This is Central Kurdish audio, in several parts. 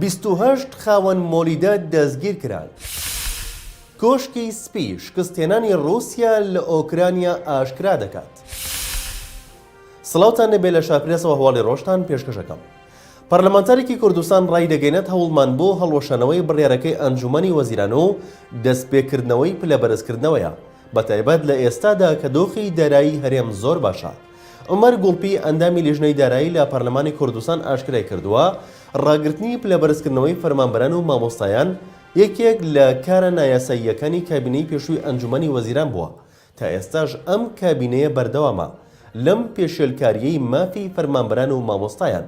بیست و هەشت خاوەن مۆلیدە دەستگیرکران. کۆشکی سپی شکستهێنانی ڕووسیا لە ئۆکرانیا ئاشکرا دەکات. سڵاوتان لێبێ لە شاپرێسەوە هەواڵی ڕۆژتان پێشکەش ئەکەم. پەرلەمانتارێکی کوردستان ڕایدەگەیەنێت هەوڵمان بۆ هەڵوەشانەوەی بڕیارەکەی ئەنجوومەنی وەزیران و دەستپێکردنەوەی پلەبەرزکردنەوەیە، بەتایبەت لە ئێستادا کە دۆخی دارایی هەرێم زۆر باشە. عومەر گوڵپی، ئەندامی لیژنەی دارایی لە پەرلەمانی کوردستان ئاشکرای کردووە، ڕاگرتنی پلەبەرزکردنەوەی فەرمانبەران و مامۆستایان یەکێک لە کارە نایاساییەکانی کابینەی پێشووی ئەنجومەنی وەزیران بووە، تا ئێستاش ئەم کابینەیە بەردەوامە لەم پێشێلکارییەی مافی فەرمانبەران و مامۆستایان.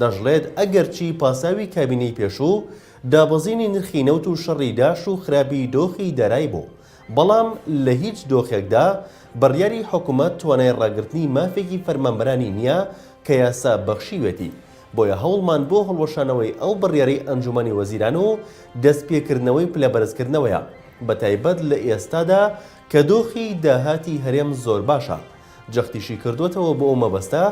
دەشڵێت، ئەگەرچی پاساوی کابینەی پێشوو دابەزینی نرخی نەوت و شەڕی داعش و خراپی دۆخی دارای بوو، بەڵام لە هیچ دۆخێکدا بڕیاری حکومەت توانای ڕاگرتنی مافێکی فەرمانبەرانی نییە کە یاسا بەخشیوێتی، بۆیە هەوڵمان بۆ هەڵوەشانەوەی ئەو بڕیارەی ئەنجومەنی وەزیران و دەستپێکردنەوەی پلەبەرزکردنەوەیە، بەتایبەت لە ئێستادا کە دۆخی داهاتی هەرێم زۆر باشە، جەختیشی کردووەتەوە بۆ ئەو مەبەستە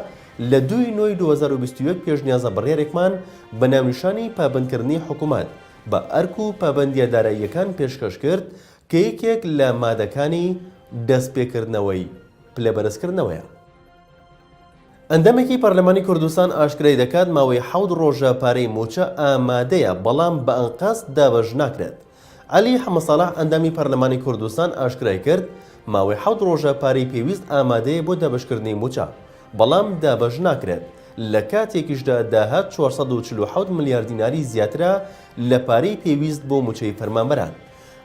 لە دوو ی نۆی دوو هەزار و بیست و یەک پێشنیازە بڕیارێکمان بە ناونیشانی پابەندکردنی حکومەت بە ئەرک و پابەندییە داراییەکان پێشکەش کرد کە یەکێک لە مادەکانی دەستپێکردنەوەی پلەبەرزکردنەوەیە. ئەندامێکی پەرلەمانی کوردستان ئاشکرای دەکات، ماوەی حەوت ڕۆژە پارەی مووچە ئامادەیە، بەڵام بە ئەنقەست دابەش ناکرێت. عەلی حەمەساڵح ئەندامی پەرلەمانی کوردستان ئاشکرای کرد، ماوەی حەوت ڕۆژە پارەی پێویست ئامادەیە بۆ دابەشکردنی مووچە، بەڵام دابەش ناکرێت، لە کاتێکیشدا داهات چوار سەد و چل و حەوت ملیار دیناری زیاترە لە پارەی پێویست بۆ مووچەی فەرمانبەران.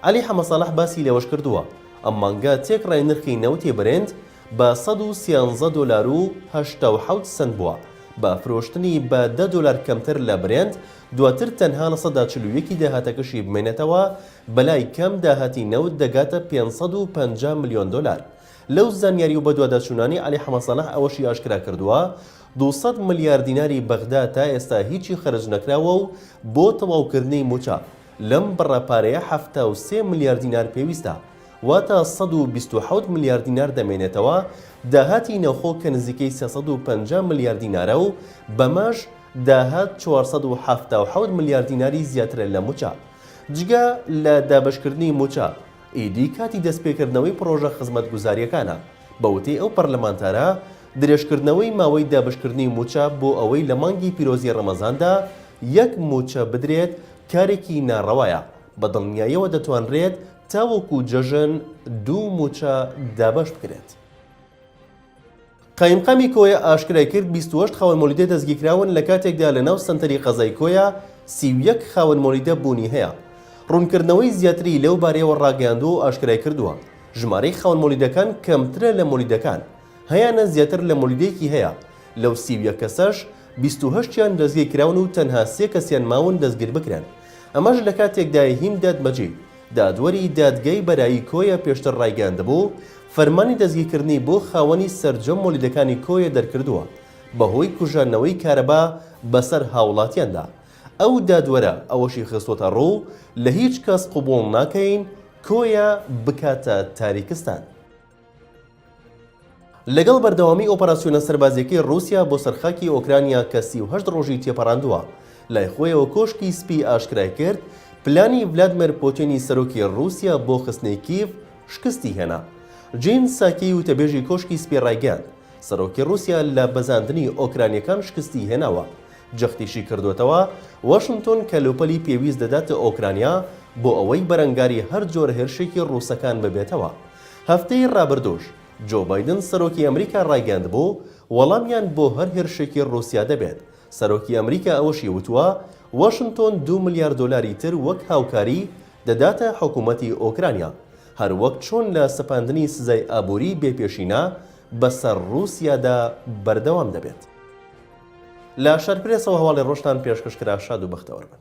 عەلی حەمەساڵح باسی لەوەشکردووە، ئەم مانگە تێکڕای نرخی نەوتی برێنت بە سەد و سیانزە دۆلار و هەشتا و حەوت سەنت بووە، بە فرۆشتنی بە دە دۆلار کەمتر لە برێنت، دواتر تەنها لە سەدا چل و یەک ی داهاتەکەشی بمێنێتەوە، بەلای کەم داهاتی نەوت دەگاتە پێنج سەد و پەنجا ملیۆن دۆلار، لەو زانیاری و بەدواداچوونانەی عەلی حەمەساڵح ئەوەشی ئاشکرا کردووە، دوو سەد ملیار دیناری بەغدا تا ئێستا هیچی خەرج نەکراوە و بۆ تەواوکردنی مووچە لەم بڕە پارەیە حەفتا و سێ ملیار دینار پێویستە، واتە سەد و بیست و حەوت ملیار دینار دەمێنێتەوە داهاتی ناوخۆ کە نزیکەی سێ سەد و پەنجا ملیار دینارە و بەمەش داهات چوار سەد و حەفتا و حەوت ملیار دیناری زیاترە لە مووچە. جگە لە دابەشکردنی مووچە، ئیدی کاتی دەستپێکردنەوەی پڕۆژە خزمەتگوزارییەکانە. بە وتەی ئەو پەرلەمانتارە، درێژکردنەوەی ماوەی دابەشکردنی مووچە بۆ ئەوەی لە مانگی پیرۆزی ڕەمەزاندا یەک مووچە بدرێت کارێکی ناڕەوایە، بە دڵنیایەوە دەتوانرێت تاوەکو جەژن دوو مووچە دابەش بکرێت. قایمقامی کۆیە ئاشکرایکرد، بیست و هەشت خاوەن مۆلیدە دەستگیرکراون لە کاتێکدا لە ناو سەنتەری قەزای کۆیە سی و یەک خاوەن مۆلیدە بوونی هەیە. روونکردنەوەی زیاتری لەو بارەیەوە راگەیاندووە و ئاشکرایکردووە، ژمارەی خاوەن مۆلیدەکان کەمترە لە مۆلیدەکان هەیانە زیاتر لە مۆلیدەیەکی هەیە، لەو سی و یەک کەسەش بیست و هەشت یان دەستگیرکراون و تەنها سێ کەسیان ماون دەستگیربکرێن، ئەمەش لە کاتێکدایە هیند دادمەجی. دادوەری دادگای بەرایی کۆیە پێشتر ڕایگەیاندبوو، فەرمانی دەستگیرکردنی بۆ خاوەنی سەرجەم مۆلیدەکانی کۆیە دەرکردووە، بەهۆی کوژاندنەوەی کارەبا بەسەر هاوڵاتیاندا. ئەو دادوەرە ئەوەشی خستووەتەڕوو، لە هیچ کەس قبوڵ ناکەین کۆیە بکاتە تاریکستان. لەگەڵ بەردەوامی ئۆپەراسیۆنە سەربازیەکەی ڕوسیا بۆ سەرخاکی ئۆکرانیا کە سی و هەشت ڕۆژی تێپەڕاندووە لای خۆیەوە کۆشکی سپی ئاشکرای کرد پلانی ڤلادمێر پۆتێنی سەرۆکی ڕوسیا بۆ خستنەی کیڤ شکستی هێنا جین ساکی وتەبێژی کۆشکی سپی ڕایگەیاند سەرۆکی ڕوسیا لە بەزاندنی ئۆکرانیەکان شکستی هێناوە جەختیشی کردوێتەوە واشنتۆن کەلوپەلی پێویست دەداتە ئۆکرانیا بۆ ئەوەی بەرەنگاری هەر جۆرە هێرشێکی ڕوسەکان ببێتەوە هەفتەی ڕابردووش جۆ بایدن سەرۆکی ئەمریکا ڕایگەیاندبوو وەڵامیان بۆ هەر هێرشێکی ڕووسیا دەبێت، سەرۆکی ئەمریکا ئەوەشی وتووە واشنتۆن دوو ملیار دۆلاری تر وەک هاوکاری دەداتە حکومەتی ئۆکرانیا، هەر وەک چۆن لە سەپاندنی سزای ئابووری بێ پێشینە بەسەر ڕووسیادا بەردەوام دەبێت. لە شارپرێسەوە هەواڵی ڕۆژتان پێشکەش کرا شاد و بەختەوەر بن.